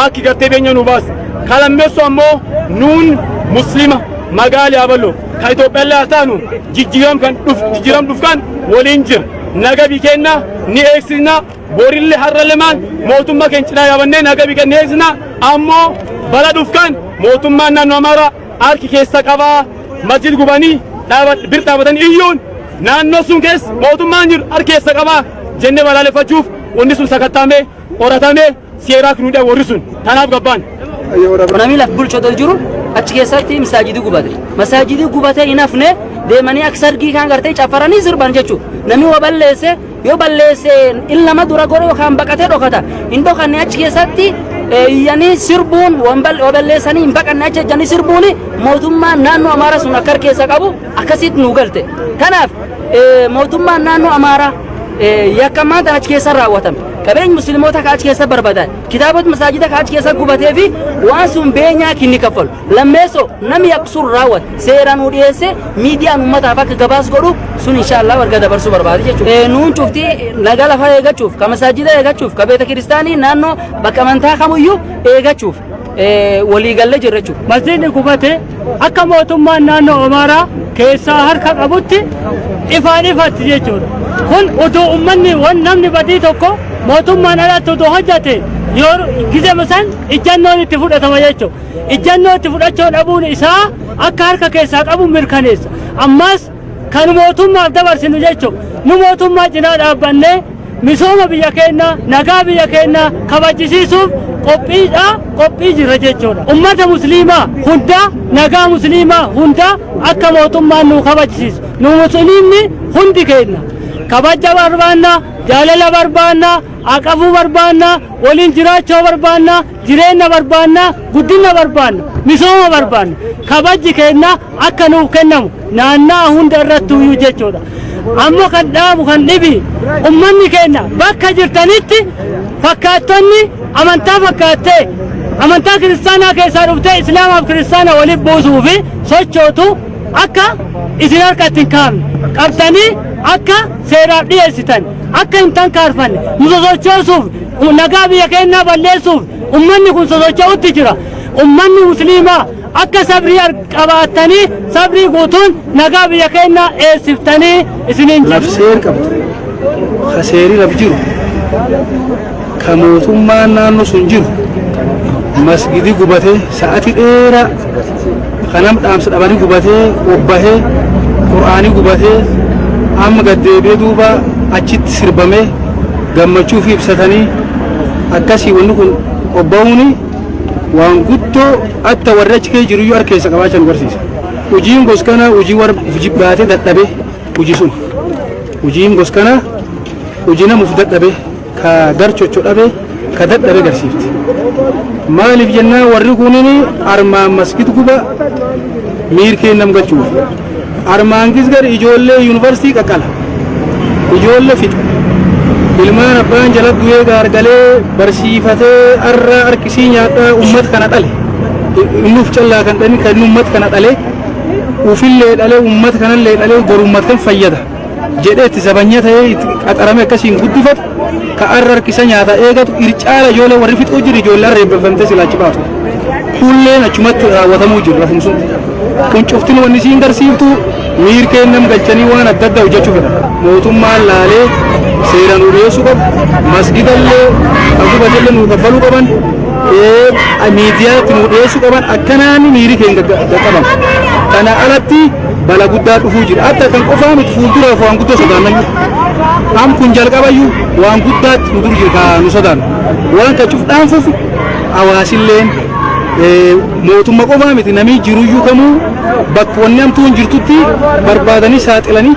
Aakki gartee beenya nuu baasi. Ka lammessu ammoo nuun muslima magaal yaaballo ka Ethiopiallee haa taanu jijjiiram kan dhuf jijjiiram dhuf kan woliin jir naga bi keenna ni eegsisna borille harralle maan mootumma keen cinaa yaabannee naga bi kan ni eegsisna ammoo bala dhuf kan mootummaan naannoo amaaraa harki keessa qabaa masjid gubanii dhaabat bir dhaabatan iyyuun naannoo sun keessa mootummaan jiru harki keessa qabaa jenne balaaleffachuuf wanni sun sakattaamee qoratamee seeraaf nu hidhan warri sun tanaaf gabbaan. Namni laf bulchu otoo jiru achi keessatti masaajidii gubate. Masaajidii gubatee hin hafne deemanii akka sargii kaan gartee caffaranii sirban jechuudha. Namni waa balleesse yoo balleesse inni nama dura godhe yookaan baqatee dhokata. Hin dhokanne achi keessatti eh, iyyanii sirbuun waan bal- waa balleessanii hin baqanne achi ejjanii sirbuun mootummaan naannoo Amaaraa sun akka harkeessa qabu akkasitti nu galte. Kanaaf eh, mootummaan naannoo Amaaraa eh, yakkamaan tan achi keessa raawwatame. Qabeenyi Musliimota ka achi keessa barbadaa'e, kitaabota masaajida ka achi keessa gubatee fi waan sun beenyaa kinni kaffalu. Lammeessoo nami yakka sun raawwate seeraan nuu dhiyeessee miidiyaan ummataaf akka gabaas godhu sun inshaallah warga dabarsuu barbaade jechuudha. Nuun cufti naga lafaa eegachuuf, ka masaajida eegachuuf, ka beeta kiristaanii naannoo bakka amantaa kamuyyuu eegachuuf. waliigallee jirra jechuudha. Masjiidni gubate akka mootummaan naannoo Amaaraa keessaa harka qabutti ifaan ifatti jechuudha. Kun utuu uummanni wan namni badii tokko mootummaan alatti utuu hojjate yoo gizema san ijjannoon itti fudhatama jechuudha. Ijjannoo itti fudhachuu dhabuun isaa akka harka keessaa qabu mirkaneessa. Ammas kan mootummaaf dabarsinu jechuun nu mootummaa cinaa dhaabbannee misooma biyya keenyaa nagaa biyya keenyaa kabajisiisuuf qophiidha qophii jirra jechuudha. Ummata musliimaa hundaa nagaa musliimaa hundaa akka mootummaan nu kabajisiisu nu musliimni hundi keenya kabaja barbaanna jaalala barbaanna aqafuu barbaanna waliin jiraachuu barbaanna Jireenna barbaanna, guddinna barbaanna, misooma barbaanna. Kabajji keenna akka nuuf kennamu naanna'a hunda irrattuuyyuu jechuudha. Ammo kan dhaabu kan dhibi ummanni keenna bakka jirtanitti fakkaattonni amantaa fakkaattee amantaa kiristaanaa keessaa dhuftee islaamaaf kiristaana walitti buusuufi sochootu, akka isin harka itti hin kaafne qabdanii akka seeraaf dhiyeessitan akka hin tankaarfanne nu sosochoosuuf nagaa biyya keenyaa balleessuuf ummanni kun sosocho'utti jira ummanni musliimaa akka sabrii qabaattanii sabrii guutuun nagaa biyya keenyaa eessiftanii isiniin jedhu. laf seer qabdu ka seeri laf jiru ka mootummaan naannoo sun jiru masgidi gubatee sa'atii dheeraa ka nam dhaamsa dhabanii gubatee obbahee qur'aanii gubatee amma gad deebi'ee duuba achitti sirbamee gammachuu fi ibsatanii akkasii wanni kun obba'uuni waan guddoo atta warri achi kee jiruyyuu harkeessa qabaachan garsiisa. Hojiin gos kana hojii warra jibbaatee dadhabee. Hujii sun hujiin gos kana hujii namuuf dadhabe ka gar chocho dhabe ka dadhabe garsiifti. Maaliif jennaa warri kunin armaan maskit guba miirkeen nam galchuuf. Armaan gisgar ijoollee yuunivarsiitii qaqqala. Ijoollee fixa. Ilmaan abbaan jala du'ee gaargalee barsiifatee arraa harkisii nyaadhaa uummata kana dhale. Innuuf callaa kan dhani kan uummata kana dhale. ufillee dhalee uummata kanallee dhalee boru uummata kan fayyada jedhee itti zabanya ta'ee itti qaxaramee akkasiin guddifatu ka arra harkisa nyaata eegatu ircaala ijoollee warri fixuu jiru ijoollee arra eebbifamtee silaachi baatu. Kulleen achumatti raawwatamuu jiru lafum sun. Kun cuftin wanni siin garsiiftu miir kennam galchanii waan adda addaa hojjechuu fedha. Mootummaan laalee seeraan nu dhiyeessuu qabu. Masgidallee kan gubatallee nu kaffaluu qaban. miidiyaatti nu dhiyeessuu qaban akkanaan miiri keenya qaqqaban. Kana alatti bala guddaa dhufuu jira. Adda kan qofaa miti fuulduraaf waan guddaa sodaannayyu. Am kun jalqabayyu waan guddaatti nu dur jiru kaa nu sodaannu. Waan ka cufdhaan fufu hawaasilleen mootumma qofaa miti namni jiruyyuu kamuu bakka wanni amtuun jirtutti barbaadanii saaxilanii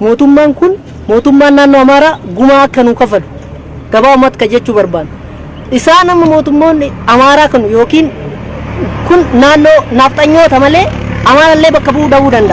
Mootummaan kun mootummaan naannoo Amaaraa gumaa akka nuu kafalu gabaabumatti kan jechuu barbaannu. Isaan amma mootummoonni Amaaraa kun yookiin kun naannoo naafxanyoota malee Amaarallee bakka bu'uu dhabuu danda'a.